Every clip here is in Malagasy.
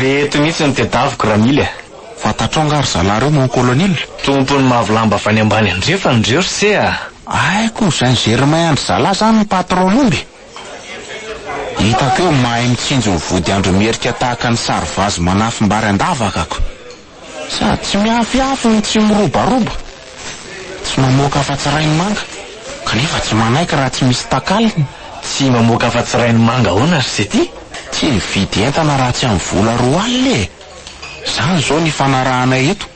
Reto mihitsy no tedaviko Ramily a! Fantatrao angaha ry zalahy reo mon colonel? Tompon'ny mavo lamba avy any ambany andrefana reo ry se a! Haiko ny saint germain an-dry zalahy zany ny patron'omby e! Hitako eo mahay mitsinjo ny vody andro merika tahaka ny sary vazo manafim-bary an-davaka ko! Sady tsy miafiafy no tsy mirobaroba, tsy mamoaka afa-tsy rainy manga, kanefa tsy manaiky raha tsy misy takalony. Tsy mamoaka afa-tsy rainy manga ahoana ry Seti? Tsy mividy entana raha tsy amin'ny vola roa alina e! Izany izao ny ifanarahanay eto.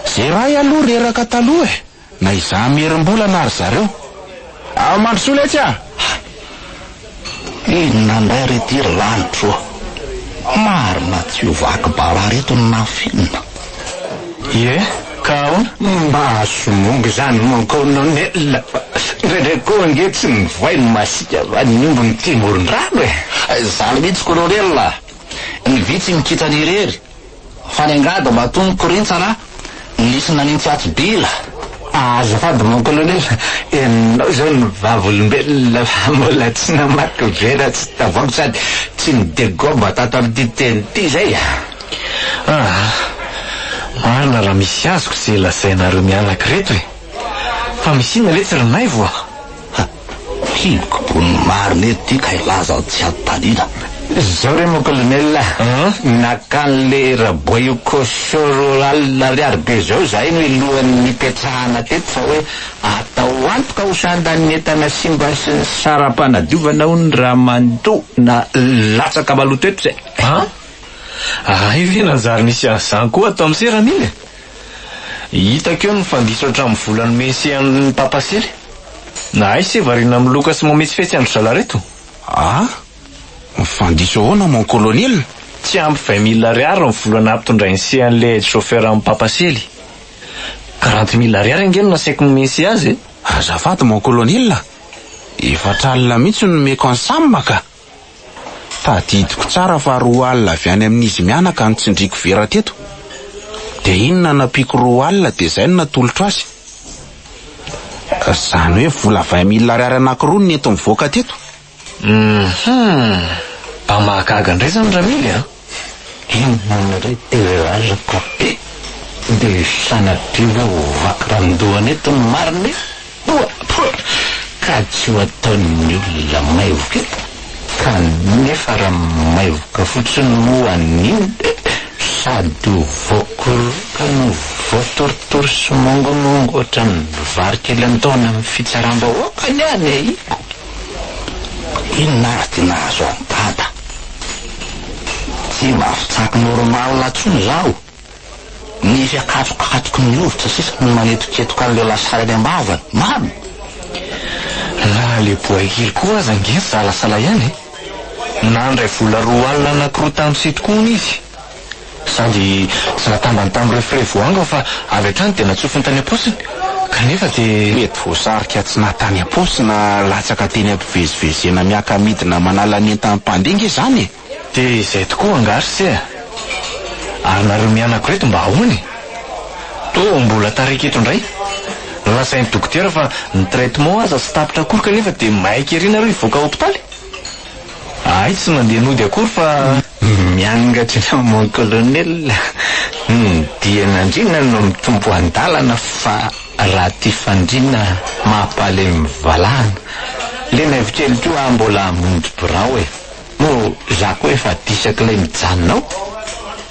Izay iray aloha reraka taloha e! Na izaho mierim-bola na ry zareo. Ao Mandrosoa letsy a! Hay! Inona indray re ity ry lanitra ô! Marina tsy ho vaky bala ry ireto ny nafinina. Ie, ka ahoana? Mba azo mongo izany mon colonel fa indraindray koa ange tsy mivoay ny masika va ny omby mitia moron-drano e! Zany mihitsy colonel a! Ny vitsy mikintana irery. Fa ny angady mba tony korintsy ra nisy nanintsy atsy bila. Azafady mon colonel, ianao izao ny vavolombelona fa mbola tsy namaky vera tsy tavoahangy sady tsy nidegomba tato amin'ity teny ity izay a! Aa! Marina raha misy azoko izay lazainareo mianaka ireto e! Fa misy inona ve tsy ry Naivo a! Ha! Hiboko bon'ny marina eto ty ka hilaza aho tsy ato taliana. Zao re mon colonel a! Naka an'le Raboayoko Sororal Ariary be zao zahay no lohan'ny nipetrahana teto fa hoe atao antoka ho sandan'ny entana simba sy ny saram-panadiovana hono raha mandoa na latsaka maloto eto zay. Ha! Ahay ve nanjary nisy an'izany koa ato amin'ny seran'iny e? Hitako eo ny fandiso hatramin'ny volan'ny Mesian'ny Papa sely. Nahay se variana amin'ny loka sy mametsifetsy an-dry zalareto. Ah! Mifandiso ahoana mon colonel? Tsy ampy vingt mille ariary ny vola nampitondrain'i se an'ilay aide chauffeur amin'ny Papa sely. Quarante mille ariary ange no nasaiko nimesia azy e! Azafady mon colonel a! Efatra alina mihitsy no nomeko an'i Sam ka! Tadidiko tsara fa roa alina avy any amin'izy mianaka no tsindriako vera teto. Dia iny nanampiako roa alina dia izay no natolotro azy. Izany hoe vola vingt mille ariary anankiroa no nenti-nivoaka teto. Hum! Mba mahagaga indray izany ramily a! Inona moa indray ity relage ka be dia sanatria ve ho vaky randohana eto ny marina e? Poa! Poa! Ka tsy ho ataon'ny olona maivoka eto kanefa raha maivoka fotsiny moa an'iny dia sady ho voakoroka no voatorotoro sy mongonongo ohatran'ny vary kely antoana amin'ny fitsaram-bahoaka ny any e! Inona ary dia nahazo an'i Dada? Tsy mba fitsako normal intsony izaho. Nisy akatsokatoky ny hovitra sisa no nanetoketoka an'ilay lasary any am-bavany. Mamy! Na le boaikely koa aza ange nisalasala ihany e! Nandray vola roa alina anakirotano sy ito koa hono izy. Sady tsy natambany tamin'ireo frais voaangona fa avy hatrany dia natsofony tany am-paosiny, kanefa dia. Mety voasarika tsy na tany am-paosy na latsaka teny am-pivezivezena miaka-midina manala ny entan'ny mpandeha ange izany e! Dia izay tokoa angaha ry se a! Ary nareo mianako ireto mba ahoana e? Toa mbola tarika eto indray? Nolazain'ny dokotera fa ny traitement aza tsy tapitra akory kanefa dia maika ery nareo hivoaka hopitaly? Ahay tsy mandeha nody akory fa miangatra eny amin'ny Mont Colonel ny dian'andriana no mitombo an-dalana fa raha tia fandriana mampahalemy valahana le naivo kely koa aho mbola hamonjy birao e! moa za koa efa disak'ilay mijanona ao?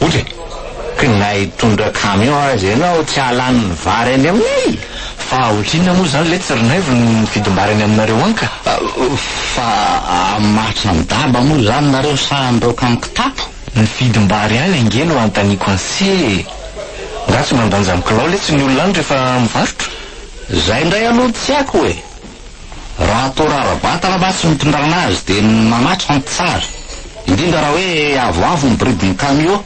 Ohatra e, ka na hitondra camion aza ianao tsy hahalany ny vary any aminay! Fa ohatrinona moa izany letsy ry Naivo ny vidim-bary any aminareo any ka? Fa hamaritra ny daba moa izany nareo sa handraoka amin'ny kitapo? Ny vidim-bary any ange no anontaniako anse e! Nga tsy mandanja ny kilao letsy ny olona any rehefa mivarotra? Izay indray aloha no tsy haiko e! Raha toa rara-batana mantsy no itondrana azy dia manatrika ny mpitsara, indrindra raha hoe avoavo ny bridin'ny kamiô.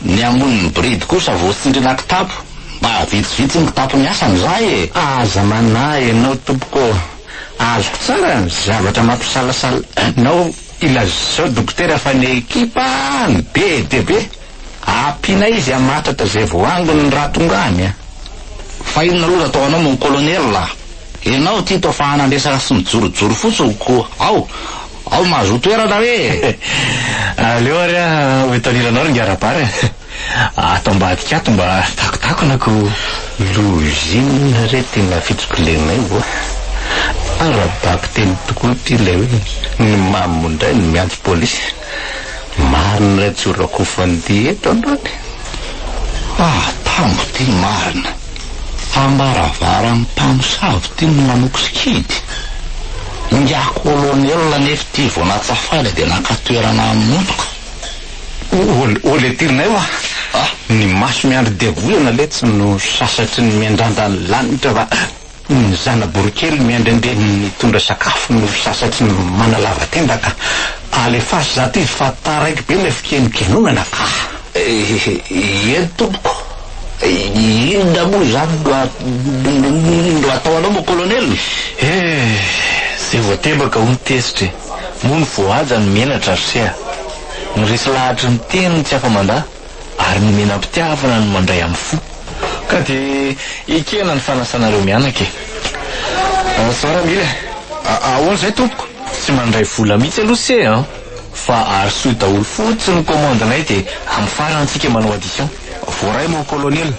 Ny hamonin'ny bridy kosa vao tsindriana kitapo. Mba vitsivitsy ny kitapo miasa amin'izay e! Aza manahy anao tompoko ô! Azoko tsara ny zavatra mampisalasala anao ilazao dokotera fa ny ekipa no be dia be. Ampiana izy hamatratra izay voangony ny rahatongany a! Fa inona aloha nataonao mon colonel a! Ianao ity toa fa hanandresaka sy mijorojoro fotsiny ko ao! Ao mahazoa toerana hoe e! Aleo ary a ho etaniranao ry ngarabara e! Ato ambadika ato mba takotakona ko! Lozina re tena fitsipilenay oa! Ara-bakiteny tokoa ity ilay hoe ny mamo indray no miantso polisy! Marina ilay jorakofany dia eto angamba e! Ah! tambo ity marina! Ambaravaran'ny mpamosavy ity no nanoko sikidy! Ingahy Kolonela anefa ity vao natsafana dia naka toerana hamonoka! O le tirinay hoa! Ny maso miandry diavolana letsy no sasatry ny miandrandra ny lanitra fa. Ny zana-borokely miandrendre ny nitondra sakafo no sasatry ny manalava tenda ka. Alefaso zato izy fa taraiky be ilay fikenokenonana ka. Iiee tompoko, inona moa izany no atao anao moa Colonel? Eeh, izay voatebaka hono tezitra e, moa ny voahaja no menatra ry se a. Ny resy lahatry ny teny no tsy afa-mandà. Ary nomena am-pitiavana ny mandray amin'ny fo. Ka dia ekena ny fanasanareo mianaka e. Zao raha mila e. Ahoana izay tompoko? Tsy mandray vola mihitsy aloha se an! Fa arosio daholo fotsiny ny commande-nay dia amin'ny farany isika manao addition. Voaray mon colonel.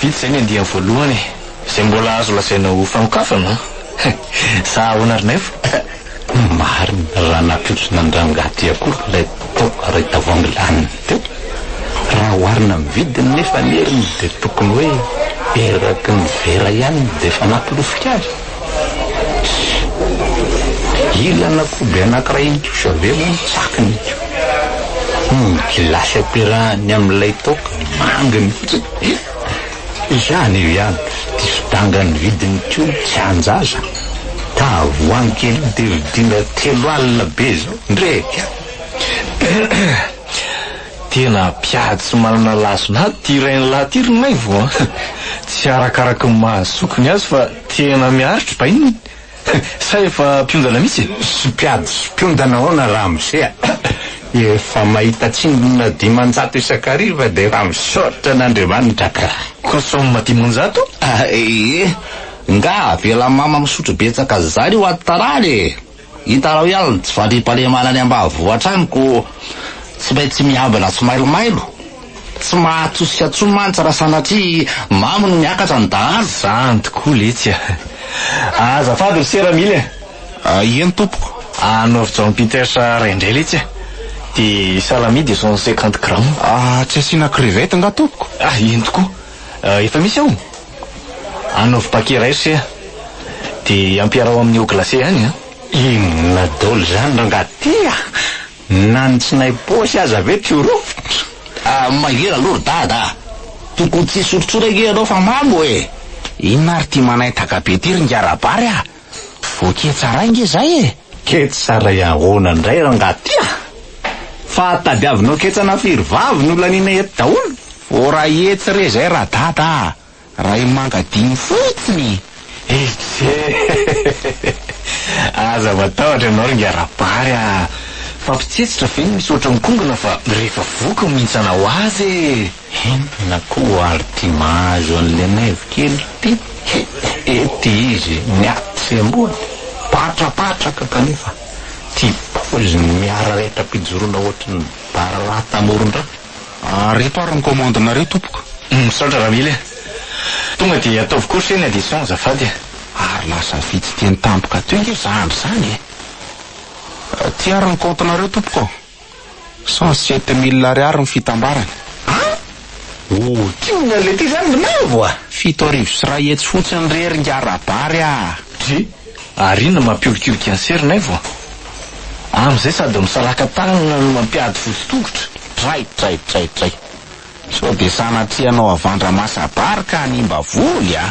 Vitsy izay ny andiany voalohany e. Izay mbola azo lazaina ho fanokafana an. Sa ahoana ry Naivo? Marina, raha nampiontronan'rangahy ty akoho ilay tao iray tavoahangy laniny teo. Raha oharina amin'ny vidiny nefa ny heriny dia tokony hoe eraky ny vera ihany dia efa nampilofika azy. Ilana koby anankiray ihany koa sa ve moa ny tsakiny ito? Humm gilasy ampiarahany amin'ilay toaka manga mihitsy e! Izany io ihany dia fidangan'ny vidin'ny tioly tsy an-jaza, tavoahangy kely io dia vidiana telo alina be izao ndreka a! Tena mpiady tsy manana lason'ady ity rainilahy ity ry Maivo a! Tsy arakaraka ny maha zokiny azy fa Tena miaritra bay ny sa efa mpiondana mihitsy e? Sy mpiady sy mpiondana ahoana ramose a! Efa mahita tsindrona dimanjato isan-kariva dia efa misaotra an'Andriamanitra kah! Kosoma dimanjato? Ahh ee! Ngah avela mama misotro betsaka zany io ato tarany e! Hitanao ihany tsy fandriampahalemana any ambanivohitra any ko tsy maintsy miambina sy mailomailo, tsy mahatosika tsony mantsy raha sanatria mamo no miakatra ny dahalo. Zany tokoa letsy a! Azafady ry sera mila e! Ahiany tompoko. Anaovy John Peters ray indray letsy a! Dia salami de cent cinquante grammes. Tsy asiana crevette nga tompoko? Ahiany tokoa. Efa misy ao? Anaovy paquet iray ry se a! De ampiaraho amin'ny eau glacée ihany a! Inona daoly zany rangaha ty a! Na ny tsinay paosy aza ve tsy ho rofotra? Mangery aloha ry dada a! Tokony tsy hisotrotsora ange ianao fa mamo e! Inona ary ty manaintaka be ty ry ngiarabary a! Voaketsa ray nge zay e! Ketsa ray ahoana ndray rangah ty ah! Fa tadiavinao ketsana firy vavy no laniana eto daholo? Vao ray hetsy re zay ra dada ah! Ray manga dimy fotsiny e! Eiche! Aza matahotra ianao ry ngara bary ah! Fa mpitsetsitra ve no misy ohatran'ny kongona fa rehefa voky no mihintsana ho azy e! Henona koa ary ty mahazo an'le naivo kely ty e ty izy miaty sy ambony patrapatraka kanefa ty paoziny miara rehitra pijorona ohatran'ny bararata amoron-dra. Reto ary ny commande nareo tompoko. Misaotra Ramily a! Tonga dia ataovy koa se ny addition azafady a! Ary lasa vitsy teny tampoka teo nge zandry zany e! Ty ary ny compte nareo tompoko. Cent sept mille ariary ny fitambarany. An! O tiany ny an'ilay ty zany ny lavo a! Fito arivo sy iray hetsy fotsiny re ry ngarabary a! Dry, ary inona mampiolikioliky an'i Serinaivo a! Amin'izay sady misaraka tanana no mampiady fotsy tongotra. Dray, dray, dray, dray. Sao dia sanatria hanao havandra masa-bary ka hanimba voly a!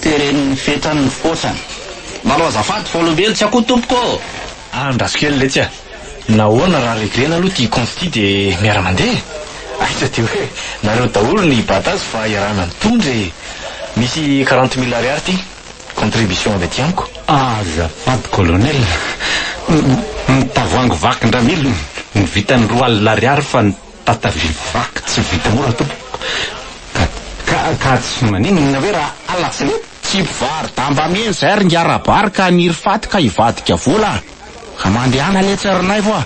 Teren'ny fetrany ny fôsany. Manao azafady fa olombelo tsy akoho tompoko ô! Ah andraso kely letsy ah! Nahoana raha reglena aloha ity consti de miara mandeha e! Aiza de hoe nareo daholo ny batazy fa iarahana mitondra e! Misy quarante mille ariary ity, contribution avy aty amiko. Azafady colonel, ny tavoahangy vaky ndramilo no vitan'ny roa alina ariary fa ny. Tata be vaky tsy vita mora tompoko ka ka ka tsy maninona ve raha alatsaina eto? Tsy mpivaro-damba miheno izay ry Ngiarabary ka haniry faty ka hivadika vola ka mandehana anie tsy ry Naivo a!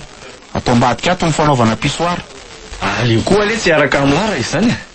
Atao ambadika ato ny fanaovana pissoir. Aleo koa anie tsy hiaraka amlara izany e!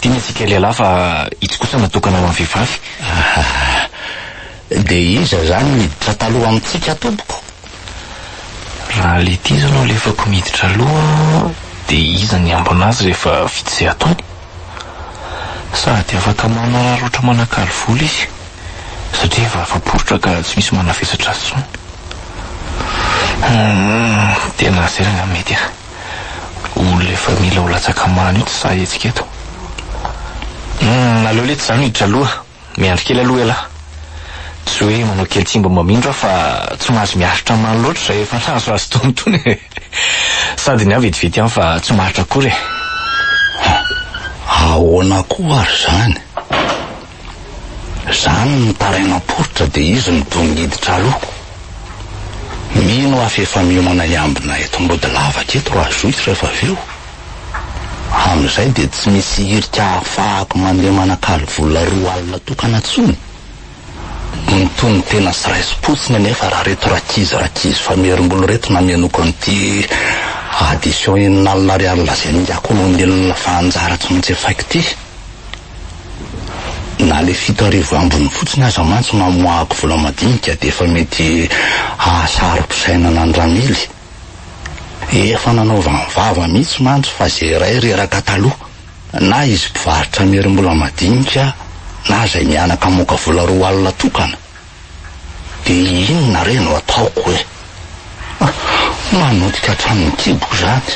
Tiana isika lehilahy fa itsy kosa natokana ho an'ny vehivavy. Dia iza izany niditra taloha amintsika tompoko? Raha ilay ity izao no alefako miditra aloha dia iza ny hiambina azy rehefa vita izay ataony? Sady afaka manararaotra manakalo vola izy satria efa afa-poritra ka tsy misy manavesatra azy intsony. Tena zay angamba mety a! ho le fa mila ho latsaka mano io tsy sahy hetsika eto. Humm aleo letsy za miditra aloha, miandry kely aloha ialahy. Tsy hoe manao kely tsy mba mamindra aho fa tsy mahazo miaritra mano loatra izay efa nahazoazo tony tony e. Sady ny ahy vetivety ihany fa tsy maharitra akory e. Hum, ahoana koa ary izany? Zany ny tarainao poritra de izy no toa miditra aloha. Mino aho fa efa miomana hiambina eto mody lavaka eto raha jouissent rehefa avy eo. Amin'izay dia tsy misy hirika ahafahako mandeha manakalo vola roa alina tokana tsony. Mitono tena sy raisim-potsiny anefa raha reto rakizy rakizy famerim-bolo reto namenoako an'ity addition enina alina ariary lazain'i Yako olombelona fa anjara tsy maintsy efaiko ity. Na le fito arivo ambiny fotsiny aza mantsy mamoahako vola madinika dia efa mety hahasaro-pisainana an'i Ramily. Efa nanaovany vava mihitsy mantsy fa izay iray reraka taloha. Na izy mpivarotra miherim-bola madinika na izay mihanaka hamoaka vola roa alina tokana. Dia inona re no ataoko e? Manotika hatramin'ny kiboko izany.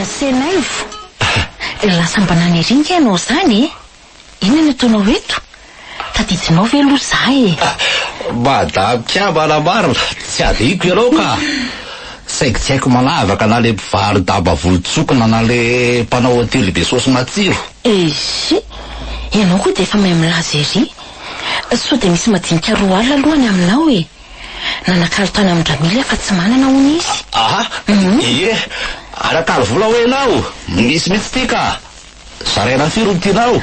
Asenaivo, dia lasa mba nanirianka ianao izany e! Inona no ataonao eto? Tadidinao ve aloha za e? Madame Kiaba nambarina, tsy adihiko ianao ka! Saingy tsy haiko manavaka na le mpivaro-damba volontsokina na le mpanao hotely be saosy matsiro. Eisy! Ianao koa dia efa mahay milaza ery. Sao dia misy madinika roa alina aloha any aminao e! Nanakalo tany amin-dRamily aho fa tsy manana hono izy. Aha! Ie! Anakalo vola hoy ianao? Misy mihitsy ity ka! Zaraina firy ny tianao?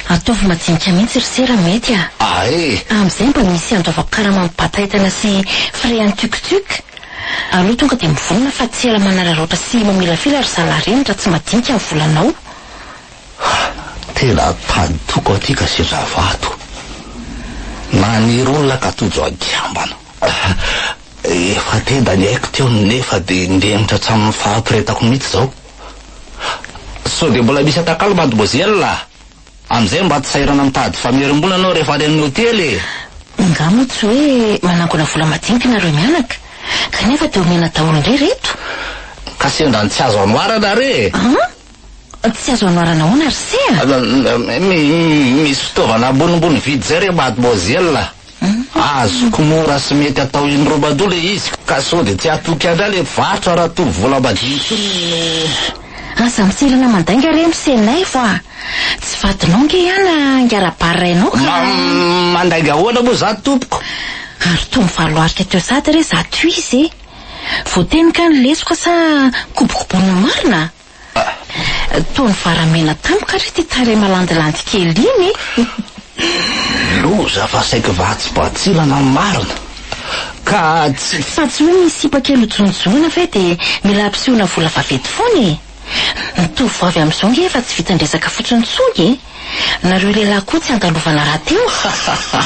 Ataovy madinika mihitsy ry se raha mety a! Ah eh! Amin'izay mba misy andoavako karama amin'ny bataitana sy frais an'i Tuc Tuc? Aleo tonga dia mivonona fa tsy ela manararaotra sy mamilafila ry zalahy reny raha tsy madinika ny volanao. Ah! Tena tany toko aty ka sendra vato. Naniry olona ka tojo an-kiambana. Efa tenda ny aiko teo nefa dia nihemitra hatramin'ny fahaporetako mihitsy izao. Sao dia mbola misy atakalo mademoiselle a! Amin'izay mba tsy sahirana mitady famerim-bola ianao rehefa any amin'ny hotely e! Angaha moa tsy hoe manangona vola madinika ianareo mianaka? Kanefa dia omena daholo indray ry reto? Ka sendra ny tsy azo anoarana re e! An? Tsy azo anoarana ahoana ry se a? Misy fitaovana ambonimbony vidy izay re mademoiselle a! Azoko mora sy mety atao in robado le izy ka sao de tsy hatoky andra le varotra ratovo volambadidy. Aza mitsilana mandainga re misenay vo a! Tsy vadinao nge ian a ngara barra enao ka a! Mandainga ahoana moa za tompoko? Ary toa mivaloarika teo sady re za tohizo e! Voateny kany lesoka sa kobokobonina marina? Toa nivara mena tampoka re ty tarehy malandilandy kely iny eh! Loza fa saiky vatsy batsilana ny marina ka tsy. Fa tsy hoe misy sipa kely hojonojonoina ve dia mila ampisehoana vola vaventy foana e! Ny tovovavy amin'izao nge efa tsy vitan'ny resaka fotsiny intsony e! Nareo lehilahy koa tsy andalovana rahateo a!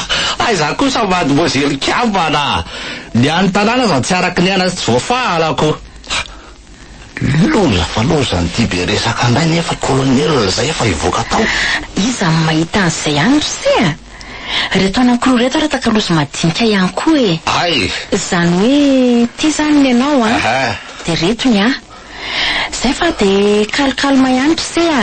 Aiza kosa mademoiselle kambana a! Ny an'ny tanàna aza tsy araka ny aina sy tsy voafaha alako! Loza fa loza an'ity be resaka ndray nefa colonel zay efa hivoaka tao. Iza no mahita an'izay any ry se a! Reto anankiroa reto ary takalozy madinika ihany koa e! Hay! Zany hoe ty izany ny anao a! Dia reto ny ahy! Zay fa dia calme calme ihany ry se a!